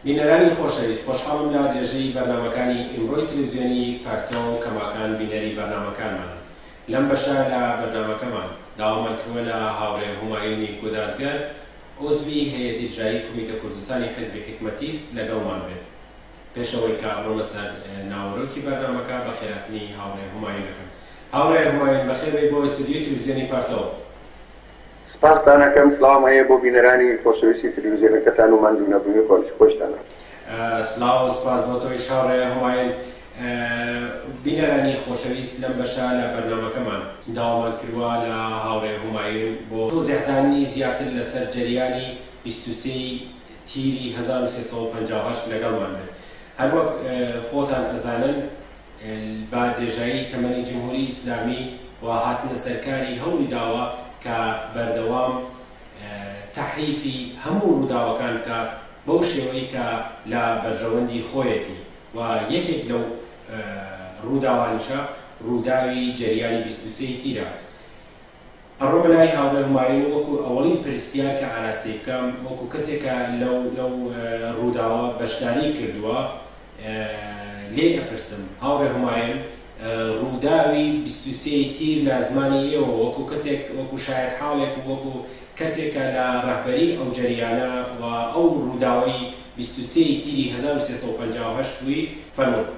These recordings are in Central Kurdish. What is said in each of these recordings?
بینەرانی خۆشەویست خۆشحاڵم لە درێژەی بەرنامەکانی ئیمڕۆی تلویزیۆنی پەرتۆ و کەماکان بینەری بەرنامەکانمان لەم بەشە لە بەرنامەکەمان داوامان کردوە لە هاوڕێ هومایونی گودازگەر عوزوی هەیئەت ئیجرایی کومیتە کوردستانی حیزبی حیکمەتیست لەگەڵمان بێت پێش ئەوەی کە بڕۆمە سەر ناوەرۆکی بەرنامەکە بە خێراتنی هاوڕێ هومایونەکەم هاوڕێ هومایون بەخێربێی بۆ ئیستودیۆی تلویزیۆنی پەرتۆ. سپاستان ئەکەم، سلاوم هەیە بۆ بینەرانی خۆشەویستی تلویزیۆنەکەتان و ماندوو نەبوونی خۆنشی خۆشتانە. سلاو و سپاس بۆ تۆیش هاوڕێ هومایون. بینەرانی خۆشەویست لەم بەشە لە بەرنامەکەمان. داوامان کردوە لە هاوڕێ هومایون بۆ تۆزیعدانی زیاتر لەسەر جەریانی بیست و سێ ی تیری هەزار و سێ سەد و پەنجا و هەشت لەگەڵمان بێت هەروەک خۆتان ئەزانن. با درێژایی تەمەنی جمهوری ئیسلامی و هاتنە سەرکاری هەوڵی داوە کە بەردەوام تەحریفی هەموو ڕووداوەکان بکا بەو شێوەی کە لە بەرژەوەندی خۆیەتی و یەکێک لەو ڕووداوانیشە ڕووداوی جەریانی بیست و سێ ی تیرە. پەڕۆمە لای هاوڕێ هومایون و وەکو ئەوەڵین پرسیار کە ئاراستەی بکەم وەکو کەسێک کە لەو لەو ڕووداوە بەشداریی کردووە لێی ئەپرسم هاوڕێ هومایون ڕووداوی بیست و سێ ی تیر لە زمانی ئێوە وەکو کەسێک وەکو شایەت حاڵێک و وەکو کەسێک کە لە ڕەهبەریی ئەو جەریانە و ئەو ڕووداوەی بیست و سێ ی تیری هەزار و سێ سەد و پەنجا و هەشت بووی فەرموون.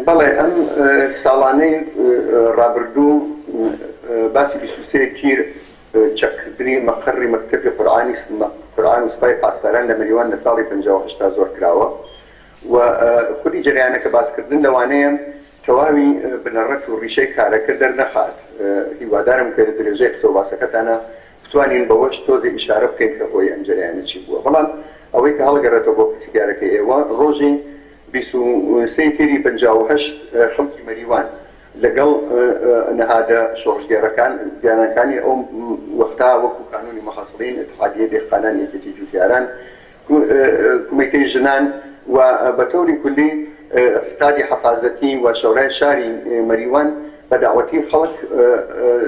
بەڵێ ئەم ساڵانەی ڕابردوو باسی بیست و سێ تیر چەککردنی مەقەڕی مەکتەبی قورئان و سپای پاسداران لە مەریوان لە ساڵی پەنجا و هەشتا زۆر کراوە و خودی جەریانەکە باسکردن لەوانەیە تەواوی بنەڕەت و ڕیشەی کارەکە دەرنەخات هیوادارم کە لە درێژەی قسە و باسەکەتانا بتوانین بەوەش تۆزێ ئیشارە بکەین کە هۆی ئەم جەریانە چی بووە بەڵام ئەوەی کە هەڵگەڕێتەوە بۆ پرسیگارەکەی ئێوە ڕۆژی بیست و سێ ی تێری پەنجا و هەشت خەڵکی مەریوان لەگەڵ نەهادە شۆڕشگێڕەکان دیانانکانی ئەو وەختا وەکو کانونی محصلین، اتحادیەی دێهقانان، یەکێتی جوتیاران، کومیتەی ژنان و بە تەوری کولی اتحادی حەفازەتی و شەورای شاری مەریوان بە دەعوەتی خەڵک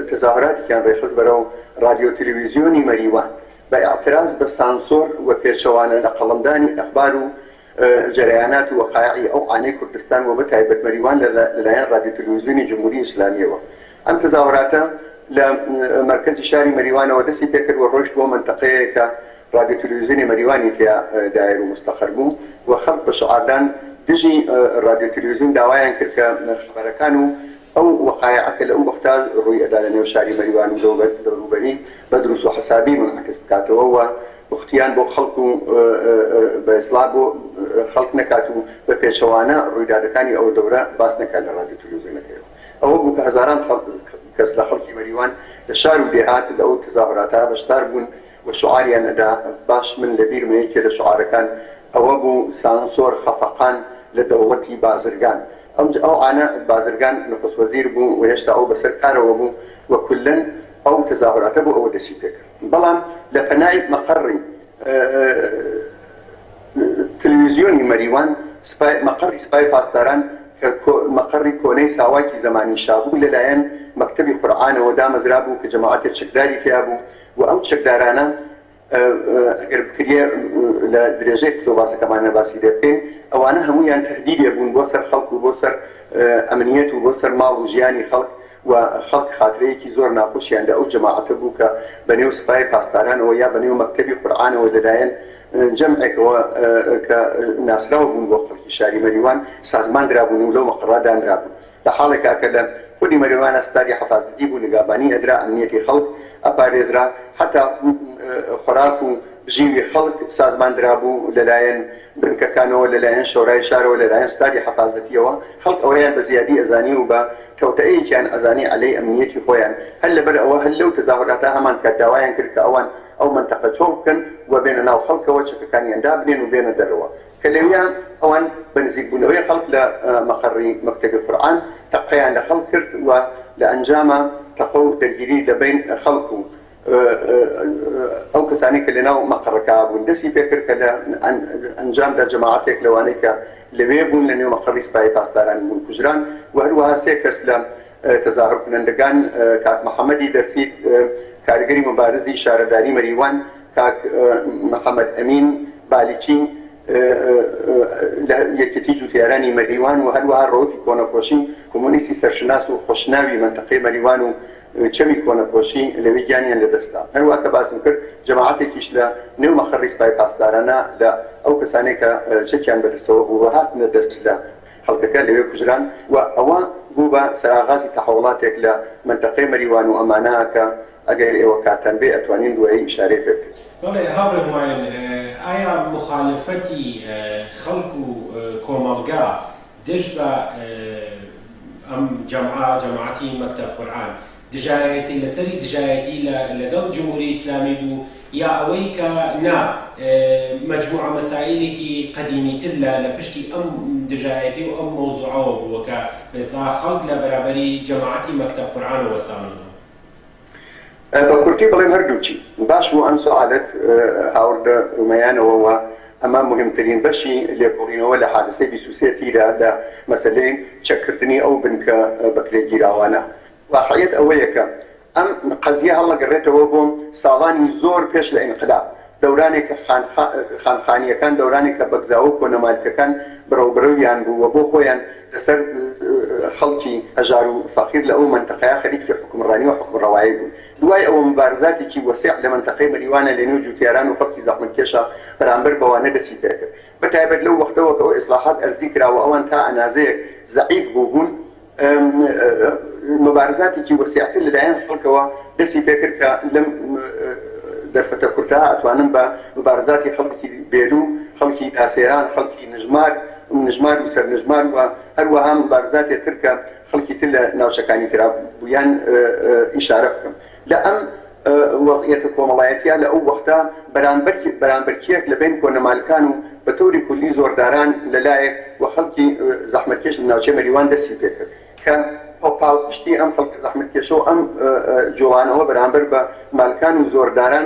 تەزاهراتیکیان رێخست بەرەو رادیۆو تەلەویزیۆنی مەریوان بە ئیعتراز بە سانسۆر و پێچەوانە لە قەڵەمدانی ئەخبار و جەرەیانات و وەقایعی ئەو عانەی کوردستان و بە تایبەت مەریوان لە لەلایەن ڕادیو تەلویزیونی جمهوری ئیسلامیەوە ئەم تەزاوەراتە لە مەرکەزی شاری مەریوانەوە دەستی پێ کرد و ڕۆشت بۆ مەنتەقەیەک کە ڕادیو تەلویزیونی مەریوانی تێیا دایەر و مستەقەر بوو و خەڵک بە شعاردان دژی ڕادیو تەلویزیون داوایان کرد کە خەبەرەکان و ئەو وەقایعە کە لەو وەقتە ڕووی ئەدا لە نێو شاری مەریوان و دەوروبەری بە دروس و حسابی مونعەکس بکاتەوە و پوختیان بۆ خەڵک و بە ئیسڵاح بۆ خەڵک نەکات و بە پێچەوانە ڕویدادەکانی ئەو دەورە باس نەکات لە ڕادیو تەلەوزیۆنەکەیەوە ئەوە بوو کە هەزاران کەس لە خەڵکی مەریوان لە شار و دێهات لە ئەو تەزاهوراتە بەشدار بوون و شعاریان ئەدا، باش من لە بیرمە یەکێ لە شعارەکان ئەوە بوو، سانسۆر خەفەقان لە دەوڵەتی بازرگان. ئەوج ئەو عانە بازرگان نخست وەزیر بوو و هێشتا ئەو بەسەر کارەوە بوو و کوللەن ئەو تەزاهوراتە بۆ ئەوە دەستی پێ کرد. بەڵام لە پەنای مەقەڕی تلویزیۆنی مەریوان سپای، مەقەڕی سپای پاسداران کە کۆ مەقەڕی کۆنەی ساواکی زەمانی شا بوو لە لایەن مەکتەبی قورعانەوە دامەزرا بوو کە جەماعەتێ چەکداری تیا بوو وە ئەو چەکدارانە ئەگەر بکریە لە درێژەی قسە و باسەکەمانە باسی لێ بکەین ئەوانە هەموویان تەهدیدێ بوون بۆ سەر خەڵک و بۆ سەر ئەمنیەت و بۆ سەر ماڵ و ژیانی خەڵک و خەڵک خاترەیەکی زۆر ناخۆشیان لە ئەو جەماعەتە بوو کە بە نێو سپای پاسدارانەوە یا بە نێو مەکتەبی قورعانەوە لە لایەن جەمعێکەوە کە ناسراو بوون بۆ خەڵکی شاری مەریوان سازمان درابوون و لەو مەقەڕە دانرابوون. لە حاڵێکا کە لە خودی مەرێوانە ستاری حەفازەتی بوو نگابانی ئەدرا ئەمنیەتی خەڵک ئەپارێزرا حەتا خۆراک و بژیوی خەڵک سازمان درابوو لە لایەن بنکەکانەوە لە لایەن شۆرای شارەوە لە لایەن ستاری حەفازەتیەوە خەڵک ئەوەیان بە زیادی ئەزانی و بە کەوتئەیەکیان ئەزانی عەلەی ئەمنیەتی خۆیان هەر لەبەر ئەوە هەر لەو تەزاهوراتە هەمان کات داوایان کرد کە ئەوان ئەو مەنتەقە چۆڵ بکەن و بێنە ناو خەڵکەوە چەکەکانیان دابنێن و بێنە دەرەوە کە لەویا ئەوان بە نزیک بوونەوەی خەڵک لە مەقەڕی مەکتەبی قورئان تەقەیان لە خەڵک کرد و لە ئەنجاما تەقە و دەرگیری لە بەین خەڵک و ئەو کەسانەی کە لە ناو مەقەڕەکە بوون دەستی پێ کرد کە لە ئەنجامدا جەماعەتێک لەوانەی کە لەوێ بوون لە نێو مەقەڕی سپای پاسداران بوون کوژران و هەروەها سێ کەس لە تەزاهور کنەندگان کاک محەمەدی دەرسیت کارگەری مبارزی شارەداری مەریوان کاک محەمەد ئەمین بالیچی لە یەکێتی جووتیارانی مەریوان و هەروەها ڕەوتی کۆنەپۆشی کۆمۆنیستی سەرشناس و خۆشناوی مەنتەقەی مەریوان و چەمی کۆنەپۆشی لەوێ گیانیان لە دەست دا. هەروەها کە باسم کرد جەماعەتێکیش لە نێو مەقەڕی سپای پاسدارانە لە ئەو کەسانەی کە چەکیان بە دەستەوە بوو و هاتنە دەست لە خەڵکەکە لەوێ کوژران و ئەوە بوو بە سەراغازی تەحوڵاتێک لە مەنتەقەی مەریوان و ئەمانە کە ئەگەر ئێوە کاتتان بێ ئەتوانین دوایی ئیشارەی پێ بکەین. بەڵێ هاوڕێ هومایون، ئایا موخالەفەتی خەڵک و کۆمەڵگا دژ بە ئەم جەمعە، جەماعەتی مەکتەب قورئان، دژایەتی لەسەری دژایەتی لەگەڵ جمهوری ئیسلامی بوو یا ئەوەی کە نا مەجموعە مەسایلێکی قەدیمی تر لە لە پشتی ئەم دژایەتی و ئەم مەوزوعەوە بووە کە بە ئیستلاح خەڵک لە بەرابەری جەماعەتی مەکتەب قورئانەوە وەستاونەتەوە؟ بە کورتی بڵێم هەردووکی باش بوو ئەم سوعالەت هاوردە رومەیانەوە وە ئەمە موهیمترین بەشی لێکۆڵینەوە لە حادسەی بیست و سێ تیرە لە مەسەلەی چەک کردنی ئەو بنکە بەکرێگیراوانە واقعیەت ئەوەیە کە ئەم قەزیە هەڵەگەڕێتەوە بۆ ساڵانی زۆر پێش لە ئینقلاب دەورانێک کە خانخا خانخانییەکان دەورانێک کە بەگزاوە و کۆنەمالکەکان برەو برەویان بوو و بۆ خۆیان لە سەر خەڵکی هەژار و فەقیر لە ئەو مەنتەقەیە خەریکی حوکمڕانی و حوکمڕەوایی بوون. دوای ئەوە موبارزاتێکی وەسیع لە مەنتەقەی مەریوانە لە نێو جووتیاران و خەڵکی زەحمەتکێشا بەرامبەر بەوانە دەستی پێ کرد. بە تایبەت لەو وەختەوە کە ئیسڵاحات ئەرزی کرا و ئەوان تا ئەنازەیەک زەعیف بووبوون، مبارزاتێکی وەسیعتر لەلایەن خەڵکەوە دەستی پێکرد کە لەم دەرفەتە کورتە ئەتوانم بە مبارزاتی خەڵکی بێلو، خەڵکی تاسێران، خەڵکی نژمار، نژمار و سەرنژمار و هەروەها مبارزاتێ تر کە خەڵکی تر لە ناوچەکانی ترا بوویان ئیشارە بکەم. لە ئەم وەزعیەتە کۆمەڵایەتیە لە ئەو وەختە بەرانبەر بەرانبەرکیەک لە بەین کۆنە مالکان و بە تەوری کولی زۆرداران لە لایەک و خەلکی زەحمەتکێش لە ناوچەی مەریوان دەستی پێ کرد کە پاڵپشتی ئەم خەلکە زەحمەتکێشە و ئەم جوڵانەوە بەرانبەر بە مالکان و زۆرداران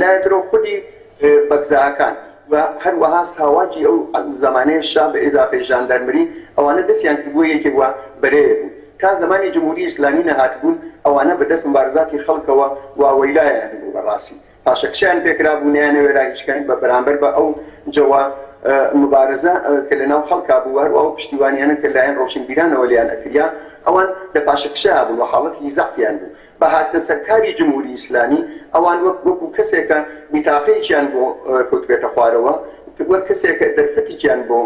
لایەترەو خودی بەکزاکان و هەروەها ساواکی ئەو زەمانەی شا بە ئیزافەی ژاندارمری ئەوانە دەستیان کردبووە یەکێک و بەرەیەک بوون تا زەمانی جمهوری ئیسلامی نەهاتبوون ئەوانە بە دەست موبارزاتی خەڵکەوە واوەیلایان بوو بە ڕاسی پاشەکشەیان پێ کرابوو نەیانەوێرا هیچ کەن بە بەرامبەر بە ئەو جەوە موبارزە کە لە ناو خەڵکا بوو و هەروا ئەو پشتیوانیانە کە لایەن ڕۆشنبیرانەوە لێیان ئەکریا ئەوان لە پاشەکشەیا بوون و حاڵەتیکی زەعفیان بوو بە هاتنە سەر کاری جمهوری ئیسلامی، ئەوان وەک وەکو کەسێک کە بیتاقەیەکیان بۆ کەوتبێتە خوارەوە، وەک کەسێک کە دەرفەتیکیان بۆ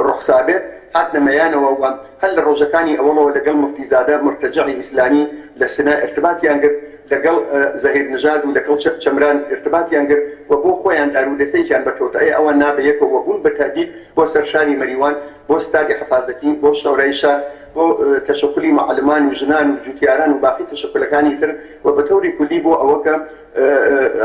ڕوخسابێت، هاتنە مەیانەوە و هەر لە ڕۆژەکانی ئەوەڵەوە لەگەڵ موفتیزادە مورتەجەعی ئیسلامی لە سنە ئیرتباتیان گرت، لەگەڵ زەهیر نژاد و لەکەڵ چەمران ئیرتباتیان گرت و بۆ خۆیان دارودەستەیەکیان بەرکەوت، ئەی ئەوان نا بە یەکەوە بوون بە تەهدید بۆ سەر شاری مەریوان، بۆ ستادی حەفازەکی، بۆ شەورای شار، بۆ تەشەکولی معەلمان و ژنان و جوتیاران و باقی تەشەکولەکانی تر و بە تەوری کولی بۆ ئەوە کە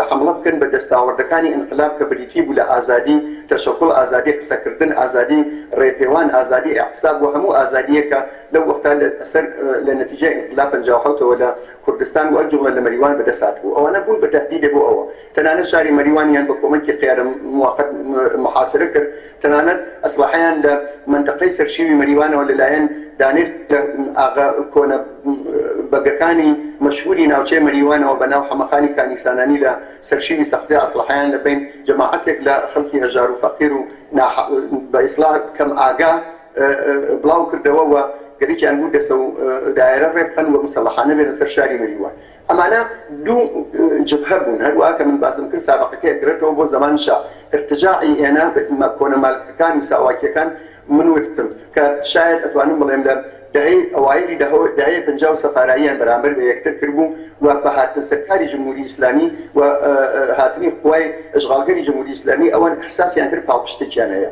حەمڵە بکەن بە دەستاوەردەکانی ئینقلاب کە بریتی بوو لە ئازادی تەشەکول، ئازادی قسەکردن، ئازادی ڕێپێوان، ئازادی ئیعتساب و هەموو ئازادییەک کە لەو وەقتە لە سەر لە نەتیجەی ئینقلاب پەنجا و حەوت ەوە لە کوردستان و ئەو جوڵە لە مەریوان بە دەست هاتبوو. ئەوانە بوون بە تەهدیدێ بۆ ئەوە تەنانەت شاری مەریوانیان بە کۆمەکی قێرم موقت محاسرە کرد، تەنانەت ئەسلەحەیان لە مەنتەقەی سەرشیوی مەریوانەوە لە لایەن دانێ لە ئاغا کۆنە بەگەکانی مەشهوری ناوچەی مەریوانەوە بە ناو حەمەخانی کانیکسانانی لە سەرشیوی سەقزێ ئەسلەحەیان لە بەین جەماعەتێک لە خەلکی هەژار و فەقیر و نا بە ئیسلاح کەم ئاگا بلاو کردەوە و گەریکیان بوو دەسەو دایەرە رێ بخەن و مسەلەحانە بێنە سەر شاری مەریوان. ئەمانە دوو جبهە بوون، هەروا کە من باسم کرد سابەقەکەی ئەگەرێتەوە بۆ زەمان شا، ارتجاعی ئێنە بە تیمە کۆنە مالکەکان و ساواکیەکان، من وتتم کە شایەد ئەتوانم بڵێم لە دەهەی ئەوایلی دەهەی پەنجا و سەفاراییان بەرامبەر بە یەکتر کردبوو و بە هاتنە سەرکاری جمهوری ئیسلامی و هاتنی قوای ئەشغالگەری جمهوری ئیسلامی ئەوان احساسیان کرد پاڵپشتێکیان هەیە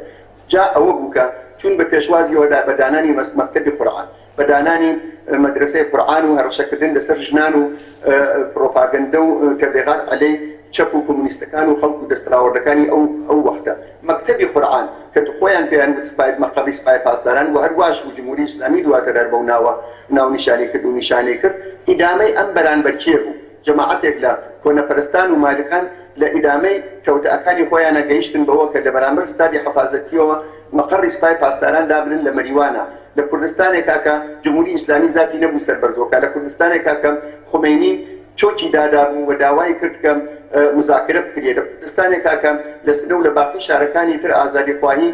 جا ئەوە بوو کە چوون بە پێشوازیەوە بە دانانی مەکتەبی قورعان بە دانانی مەدرەسەی قورعان و هەڕەشەکردن لەسەر ژنان و پڕۆپاگەندە و تەبلیغات عەلەی چەپ و کۆمۆنیستەکان و خەڵک و دەستەاوەردەکانی ئەو ئەو وەختە مەکتەبی قورعان کە خۆیان پێیان وت سپای مەقەڕی سپای پاسداران و هەرواش بوو جمهوری ئیسلامی دواتر هەر بەو ناوە ناونیشانی کرد و نیشانەی کرد ئیدامەی ئەم بەرانبەرکیە بوو. جەماعەتێک لە کۆنەپەرستان و مالیقان لە ئیدامەی تەوتەئەکانی خۆیانا گەیشتن بەوە کە لەبەرامبەر ستادی حەفازەتییەوە مەقەڕی سپای پاسداران دابنن لە مەریوانا لە کوردستانێکا کە جمهوری ئیسلامی زاتی نەبوو سەر بەرزۆکە لە کوردستانێکا کە خومەینی چۆکی دادابوو و داوای کرد کە مزاکرە بکریێ لە کوردستانێکا کە لە سنە و لە باقی شارەکانی تر ئازادیخواهی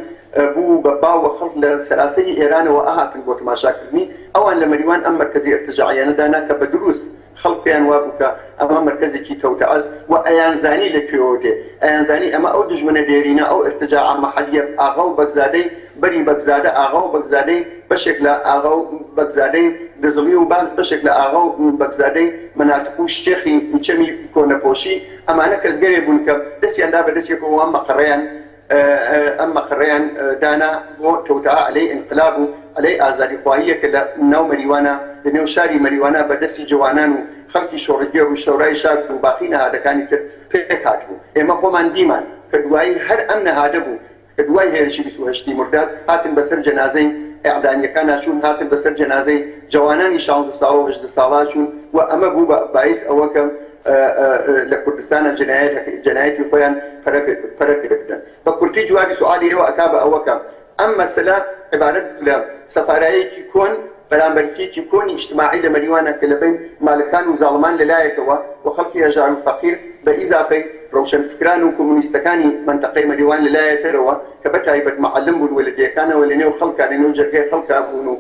بوو و بە باو و خەڵک لە سەراسەری ئێرانەوە ئەهاتن بۆ تماشاکردنی ئەوان لە مەریوان ئەم مەرکەزی ئیرتجاعیانە دانا کە بە دروس خەڵک پێیان وابوو کە ئەمە مەرکەزێکی تەوتەئەز و ئەیانزانی لە کوێوە دێ، ئەیانزانی ئەمە ئەو دوژمنە دێرینە، ئەو ئیرتجاع عەمە حەلیەب ئاغا و بەگزادەی بەری بەگزادە ئاغا و بەگزادەی بەشێک لە ئاغا و بەگزادەی گزڵی و بەشێک لە ئاغا و بەگزادەی مەناتق و شێخی چەمی کۆنەپۆشی، ئەمانە کەسگەرێ بوون کە دەستیان دا بە دەستێک و ئەم مەقەڕەیان ئەم مەقەڕەیان دانا بۆ توتعە عەلەی ئینقلاب و عەلەی ئازادیخواهیە کە لە ناو مەریوانە لە نێو شاری مەریوانە بە دەستی جەوانان و خەڵکی شۆڕگێڕ و شەورای شار و باقی نەهادەکانی تر پێک هاتبوو ئێمە خۆمان دیمان کە دوایی هەر ئەم نەهادە بوو کە دوای هێرشی بیست و هەشت ی مرداد هاتن بە سەر جەنازەی ئێعدامیەکانا چوون هاتن بە سەر جەنازەی جەوانانی شانزە ساڵە و هەژدە ساڵە چوون و ئەمە بوو بە بایس ئەوە کە لە کوردستانە جەنایەتی خۆیان پەرە پێبدەن بە کورتی جوابی سوالی ئێوە ئەکا بە ئەوە کە ئەم مەسەلە عبارەت بوو لە سەفارایەکی کۆن بەرامبەر فیکی کۆنی ئیجتماعی لە مەریوانە کە لە بەین مالکان و زاڵمان لە لایەکەوە و خەڵکی هەژار و فەقیر بە ئیزافەی ڕەوشەنفکران و کۆمۆنیستەکانی مەنتەقەی مەریوان لە لایەترەوە کە بەتایبەت معەلم بوون و لە دێکانەوە لە نێو خەڵکا لە نێو جەرگەی خەڵکا بوون و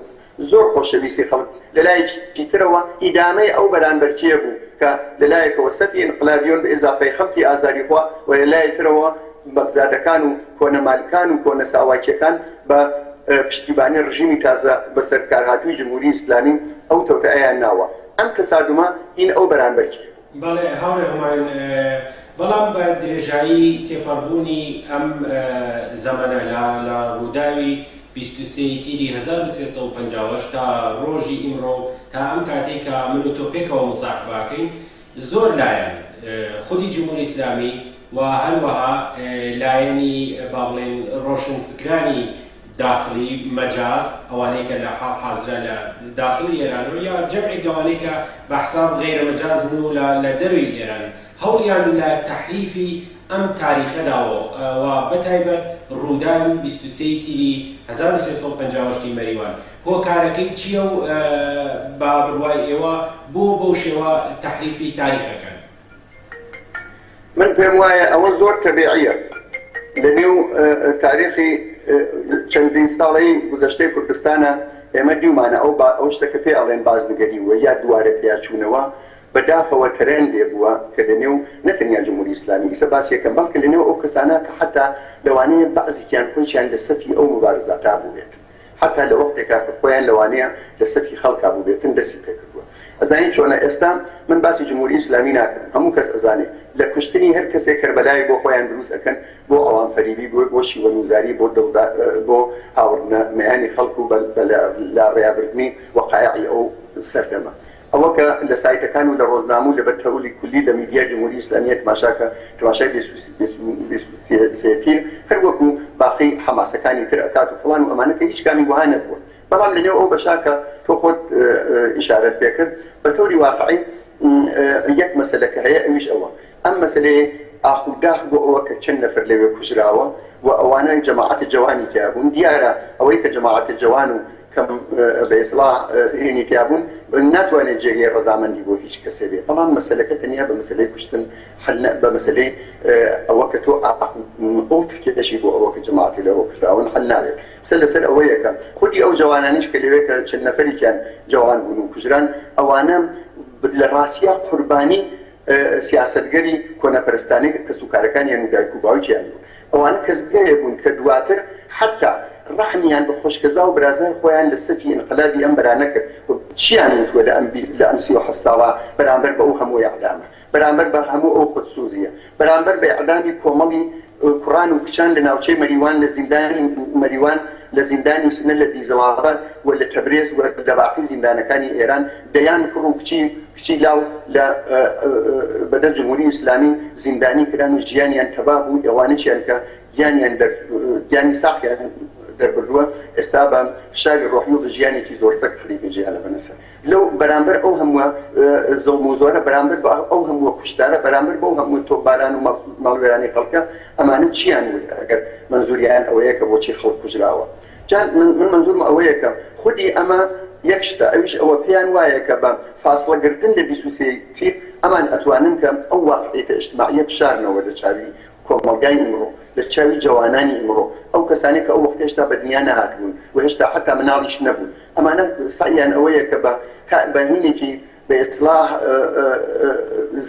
زۆر خۆشەویستی خەڵک لەلایەکی ترەوە ئیدامەی ئەو بەرانبەرچییە بوو کە لەلایەکەوە سەفی ئینقلابیۆن بە ئیزافەی خەڵکی ئازادیخوا و لەلایەی ترەوە بەگزادەکان و کۆنە مالکان و کۆنە ساواکییەکان بە پشتیبانی ڕژیمی تازە بەسەرکارهاتووی جمهوری ئیسلامی ئەو تەوتەئەیان ناوە. ئەم تەسادومە هین ئەو بەرانبەرچییە. بەڵێ هاوڕێ هومایون، بەڵام بە درێژایی تێپەڕبوونی ئەم زەمەنە لە لە ڕووداوی بیست و سێ ی تیری هەزار و سێ سەد و پەنجا و هەشت تا ڕۆژی ئیمڕۆ و تا ئەم کاتەی کە من و تۆ پێکەوە موساحبە ئەکەین زۆر لایەن خودی جمهوری ئیسلامی و هەروەها لایەنی با بڵێین ڕۆشنفکرانی داخلی، مەجاز، ئەوانەی کە لە حاڵ حازرە لە داخلی ئێرانن و یا جەمعێک لەوانەی کە بە حساب غەیرە مەجازن و لە لە دەرەوی ئێرانن، هەوڵیان لە تەحریفی ئەم تاریخە داوە و بە تایبەت ڕووداوی بیست و سێ ی تیری هەزار و سێ سەد و پەنجا و هەشت ی مەریوان هۆکارەکەی چییە و بە بڕوای ئێوە بۆ بەو شێوە تەحریفی تاریخ ئەکەن؟ من پێم وایە ئەوە زۆر تەبیعییە لە نێو تاریخی چەندین ساڵەی گوزەشتەی کوردستانە ئێمە دیومانە ئەو ئەو شتە کە پێ ئەڵێن بازنگەری وە یا دووارە تیاچوونەوە بەداخەوە تەرێن لێ بووە کە لە نێو نەتەنیا جمهوری ئیسلامی ئیسە باسیەکەم بەڵکە لە نێو ئەو کەسانە کە حتا لەوانەیە بەعزیکیان خۆیان لە سەفی ئەو مبارزاتا بووێت هەتا لە وەختێکا کە خۆیان لەوانەیە لە سەکی خەڵکا بووبێتن دەستی پێ کردووە ئەزانین چۆنە ئێستا من باسی جمهوری ئیسلامی ناکەم هەموو کەس ئەزانێ لە کوشتنی هەر کەسێ کەربەلایەک بۆ خۆیان دروست ئەکەن بۆ ئەوان فەریبی بۆ بۆ شیوەنوزاری بۆ دڵ دا بۆ هاوڕ نە مەیانی خەڵک و بە لە لا ڕێیا بردنی وەقایعی ئەو سەردەمە ئەوە کە لە سایتەکان و لە ڕۆزنامە و لە بەر تەئولی کولی لە میدیای جمهوری ئیسلامیە تماشا کە تماشای بێ سوسی بێ سوسیەتین هەر وەکو باقی حەماسەکانی تر ئەکات و فڵان و ئەمانە کە هیچ کامی وەها نەبوە بەڵام لە نێو ئەو بەشە کە تۆ خۆت ئیشارەت پێ کرد بە تەوری واقعی یەک مەسەلە کە هەیە ئەویش ئەوە ئەم مەسەلەی ئاخ و داخ بۆ ئەوە کە چەند نەفەر لەوێ کوژراوە و ئەوانە جەماعەتە جەوانی تیابون دیارە ئەوەی کە جەماعەتە جەوان و کە بە ئیسڵاح هێنی تیابوون، ناتوانێت جێگەی ڕەزامەندی بۆ هیچ کەسێ بێ، بەڵام مەسەلەکە تەنیا بە مەسەلەی کوشتن حەل نە، بە مەسەلەی ئەوە کە تۆ ئاق و تکێشی بۆ ئەوە کە جەماعەتی لە ئەوە کوژراون حەل نابێت. قسە لە سەر ئەوەیە کە خودی ئەو جەوانانیش کە لەوێ کە چەند نەفەرێکیان جەوان بوون و کوژران، ئەوانە لە ڕاستیا قوربانی سیاسەتگەری کۆنەپەرستانەی کەسوکارەکانیان و دایک و باوکیان بوون. ئەوانە کەس گەلێ بوون کە دواتر حەتتا ڕەحمیان بە خۆشکەزا و برازای خۆیان لە سەفی ئینقلابی ئەم برا نەکرد و چیان وتووە لە ئەم لە ئەم سی و حەفت ساڵە بەرامبەر بە ئەو هەموو ئێعدامە بەرامبەر بە هەموو ئەو خودسوزیە بەرامبەر بە ئێعدامی کۆمەڵی کوڕان و کچان لە ناوچەی مەریوان لە زیندانی مەریوان لە زیندانی سنە لە دیزڵابات و لە تەبرێز و لە باقی زیندانەکانی ئێران دەیان کوڕ و کچی کچی لاو لە بدر جمهوری اسلامی زیندانی کران و ژیانیان تەبا بوو ئەوانەشیان کە گیانیان دەر گیانی ساخیان دەربردووە ئێستا بە فشاری ڕۆحی و بە ژیانێکی زۆر سەگ خەریکە ژیانە بەنەسە لەو بەرامبەر ئەو هەمووە زوڵم و زۆرە بەرامبەر بە ئەو هەمووە کوشتارە بەرامبەر بەو هەموو تۆپباران و ماڵوێرانی خەڵکە ئەمانە چیان وت ئەگەر مەنزوریان ئەوەیە کە بۆچی خەڵک کوژراوە جا من من مەنزورم ئەوەیە کە خودی ئەمە یەک شتە ئەویش ئەوە پێیان وایە کە بە فاسڵە گرتن لە بیست و سێ ی تیر ئەمان ئەتوانن کە ئەو واقعیەتە ئیجتماعیە بشارنەوە لە چاوی کۆمەڵگای ئیمڕۆ لە چاوی جەوانانی ئیمڕۆ ئەو کەسانەی کە ئەو وەختە هێشتا بە دنیا نەهاتبوون و هێشتا حەتا مناڵیش نەبوون ئەمانە سەعیان ئەوەیە کە بە هە بە هینێکی بە ئیسلاح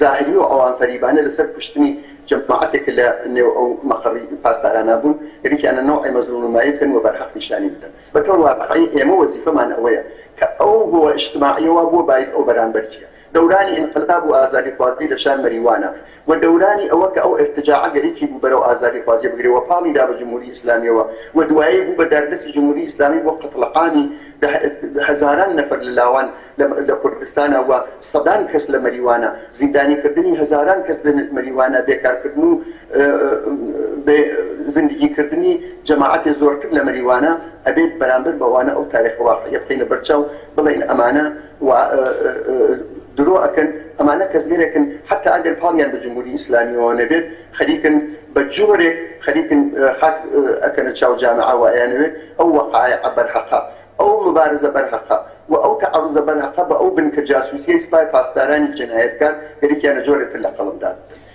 زاهری و ئەوان فەریبانە لە سەر کوشتنی جەماعەتێک کە لە نێو ئەو مەقەڕی پاسدارانا بوون یەریکی ئانە نوعێ مەزلوم و مایل کەن و بەر حەق نیشانی بدەن بە تەور واقعی ئێمە وەزیفەمان ئەوەیە کە ئەو هۆوە ئیجتماعیە وا بووە بایس ئەو بەرانبەرچیە دەورانی ئینقلاب و ئازادی خوازی لە شار مەریوانە و دەورانی ئەوە کە ئەو ئیرتجاعە گەرەکی بوو بەرەو ئازادی خوا جێ بگرێ و پاڵی دا بە جمهوری ئیسلامیەوە و دوایی بوو بە داردەستی جمهوری ئیسلامی بۆ قەتڵعامی دە هەزاران نەفەر لە لاوان لە لە کوردستانا و سەدان کەس لە مەریوانا زیندانی کردنی هەزاران کەس لە مەریوانا بێ کار کردن و بێ زندگی کردنی جەماعەتێ زۆرتر لە مەریوانا ئەبێت بەرامبەر بەوانە ئەو تاریخ واقعیە بخەینە بەر چاو بڵێین ئەمانە و درۆ ئەکەن ئەمانە کەسگەرێکن حەتا ئەگەر پاڵیان بە جمهوری ئیسلامیەوە نەبێت خەریکن بە جۆرێک خەریکن خاک ئەکەنە چاو جامعە و ئەیانەوێت ئەو وەقایعە بەرهەقە ئەو موبارزە بەرهەقە و ئەو تەعەروزە بەرهەقە بە ئەو بنکە جاسوسیەی سپای پاسدارانی جنایەتکار گەریکیانە جۆرێتر لە قەڵەم دابدەن.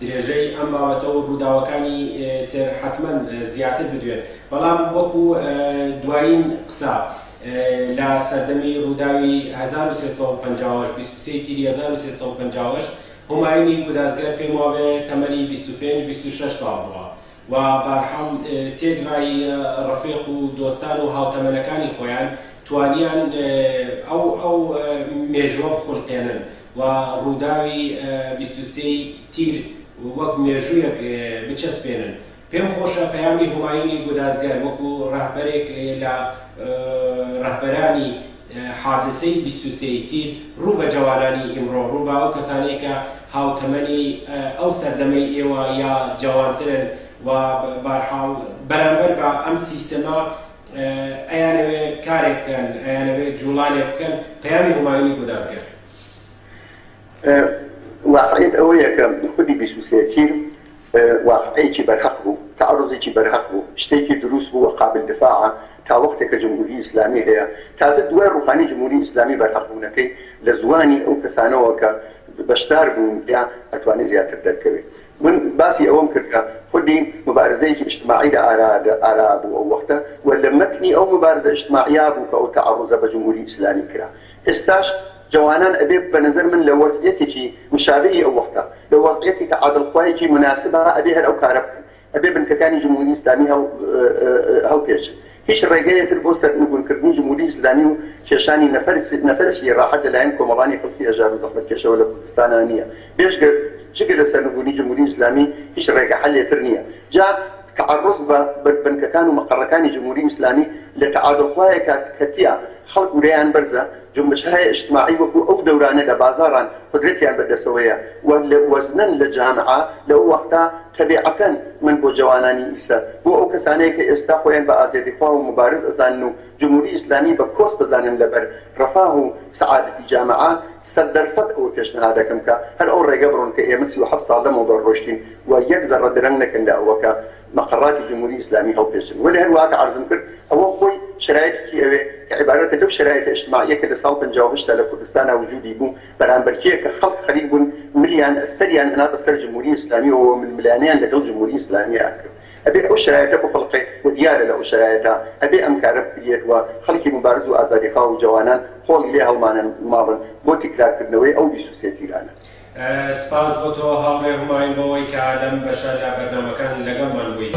درێژەی ئەم بابەتە و ڕووداوەکانی تر حەتمەن زیاتر بدوێن، بەڵام وەکو دوایین قسە لە سەردەمی ڕووداوی هەزار و سێ سەد و پەنجا و هەشت، بیست و سێ تیری هەزار و سێ سەد و پەنجا و هەشت، هومایونی گورازگەر پێم وابێ تەمەنی بیست و پێنج، بیست و شەش ساڵ بووە و بارحاڵ تێکڕای ڕەفیق و دۆستان و هاوتەمەنەکانی خۆیان توانیان ئەو مێژووە بخولقێنن. و ڕووداوی بیست و سێ ی تیر وەک مێژوویەک بچەسپێنن. پێم خۆشە پەیامی هومایونی گودازگەر وەکو ڕەهبەرێک لە ڕەهبەرانی حادسەی بیست و سێ ی تیر ڕوو بە جەوانانی ئیمڕۆ، ڕوو بە ئەو کەسانەی کە هاوتەمەنی ئەو سەردەمەی ئێوە یا جەوانترن و بارحاڵ بەرامبەر بە ئەم سیستەمە، ئەیانەوێ کارێک بکەن، ئەیانەوێ جووڵانێک بکەن، پەیامی هومایونی بۆ دادگەر. واقعیەت ئەوەیە کە خودی بیست و سێ تیر واقعێکی بەرهەق بوو، تەعەڕوزێکی بەرهەق بوو، شتێکی درووست بوو و قابل دفاعە، تا وەختێ کە جمهووری ئیسلامی هەیە، تازە دوای ڕووخانی جمهووری ئیسلامی بەرهەق بوونەکەی لە زوانی ئەو کەسانەوە کە بەشدار بوون تیا ئەتوانێ زیاتر دەرکەوێ. من باسی ئەوەم کرد کە خود دین موبارزەیەکی ئیجتماعی لە ئارا بوو ئەو وەختە و لە مەتنی ئەو موبارزە ئیجتماعیە بوو کە ئەو تەعەڕوزە بە جمهوری ئیسلامی کرا. ئێستاش جەوانان ئەبێ بە نەزەر من لە وەزعیەتێکی مشابهی ئەو وەختە، لە وەزعیەتی تەعادڵخوایەکی موناسبا ئەبێ هەر ئەو کارە بکەن. ئەبێ بنکەکانی جمهوری ئیسلامی هەڵپێچن. هیچ ڕێگەیە تر بۆ سەرنگونکردنی جمهوری ئیسلامی و کێشانی نەفەسی ڕاحەت لە لایەن کۆمەڵانی خەڵکی هەژار و زەحمەتکێشەوە لە کوردستانا نییە بێجگە جگە لە سەرنگونی جمهوری ئیسلامی هیچ ڕێگە حەلێ تر نییە جا تەعەڕوز بە بنکەکان و مەقەڕەکانی جمهوری ئیسلامی لە تەعادڵ خوایە کات کە تیا خەڵک ورەیان بەرزە جونبشهای ئیجتماعی وەکو ئەو دەورانە لە بازاڕان قودرەتیان بە دەسەوەیە و وەزنن لە جامعە لە ئەو وەختە تەبیعەتەن من بۆ جەوانانی ئیسە، بۆ ئەو کەسانەیە کە ئێستا خۆیان بە ئازێتی خوا و موبارز ئەزانن و جمهوری ئیسلامی بە کۆس دەزانن لەبەر رەفاه و سەعادەتی جامەعە، سەد دەر سەد ئەوە پێشنەهاد ئەکەم کە هەر ئەو رێگە بڕۆن کە ئێمە سی و حەفت ساڵ لەمەوبەر رۆشتین و یەک زەڕە درەنگ نەکەن لە ئەوە کە مەقەڕاتی جمهوری ئیسلامی هەڵپێچن. وەلێ هەر وەها کە عەرزم کرد ئەوە خۆی شەرایتێکی ئەوێ کە عیبارەتە لەو شەرایتە ئیجتماعیە کە لە ساڵ پەنجا و هەشت تا لە کوردستانا وجودی بوو، بەرامبەرکێ کە خەڵک خەریک بوون ملیان سەریان ئەنا بەسەر جمهوری ئیسلامیەوە و ململانێیان لەگەڵ جمهوری ئیسلامیە ئەکرد ئەبێ ئەو شەرایتە بخولقێ و دیارە لە ئەو شەرایتە ئەبێ ئەم کارە بکریەت و خەڵکی موبارز و ئازادیخواو و جەوانان قۆڵی لێ هەڵمانن ماڵن بۆ تکرار کردنەوەی ئەو بیست و سێ تیرانە. سپاس بۆ تۆ هاوڕێ هومایون بەوەی کە لەم بەشە لە بەرنامەکان لەگەڵمان بوویت.